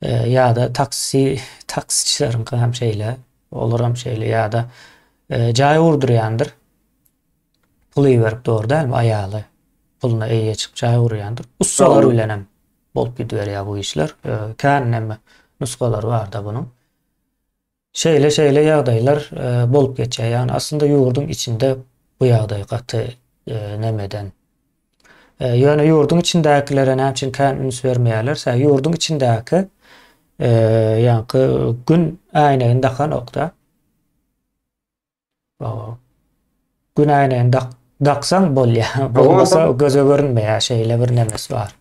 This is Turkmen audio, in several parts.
ýa-da taksi taksiçileriňki hem şeýle, olar hem şeýle ýa-da jaý gurdurýandyr. Pul iberip dogry dälmi aýaly? Puluna eýe çyk jaý gurýandyr. Ussalar bilen hem bolup gidiberýär bu işler. Kän näme nusgalary bar-da bunuň. Şeýle şeýle ýagdaýlar bolup geçýär. Ýagny aslynda ýurduň içinde bu ýagdaý gaty nemeden. Ýöne ýurduň içindäkilere näme üçin kän üns bermeýärler? Sebäbi ýurduň içindäki ýaňky gün äýnegini dakanokda. Gün äýnegini dak daksaň bolýar. Bolmasa göze görünmeýär. Şeýle bir nemesi bar.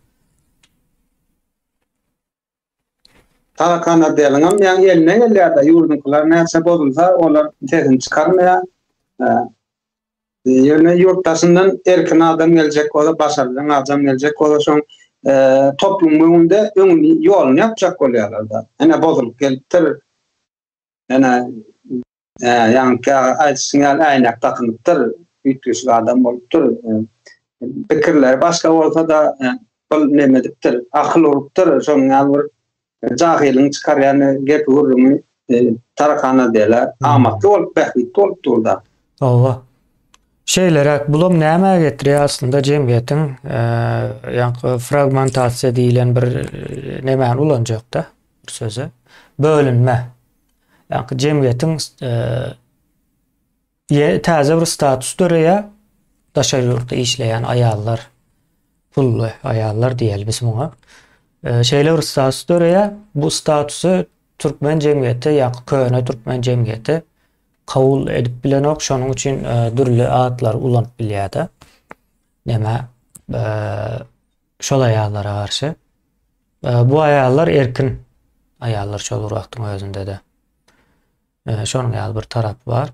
Tarakan Adeliňem ýaňy eline gelýär-de, ýurduňkylar näçe bozulsa, olar sesini çykarmaýar. Ýöne ýurt daşyndan erkin adam geljek bolsa, başarjaň adam geljek bolsa, şoň toplumyň öňünde öňüni, ýoluny ýapjak bolýarlar-da. Ene bozulyp gelipdir. Ene Ýaňky aýdyşyň ýaly äýnek dakynypdyr, üýtgeşik adam bolupdyr. Pikirleri başga bolsa-da, bu neme edipdir, akyl urupdyr, şonuň ýaly bir jahylyň çykarýan gepi-gürrüňi tarakana dela amatly bolup, bähbitli bolup dur-da. Hawa. Şeýleräk, bulam nämä getirýär aslynda jemgyýetiň ýaňky fragmentasiýa diýlen bir nemäni ulanjak-da, bir söze, bölünme. Ýa-da jemgyýetiň täze bir status döreýär. Daşary ýurtda işleýän aýallar, pully aýallar diýeli biz muňa. Şeýle bir status döreýär. Bu statusy türkmen jemgyýeti ýa-da köne türkmen jemgyýeti kabul edip bilenok. Şonuň üçin dürli atlary ulanyp bilýär-de. Näme? Şol aýallara garşy. Bu aýallar erkin aýallar şol bir wagtyň özünde-de. Şonuň ýaly bir tarapy bar.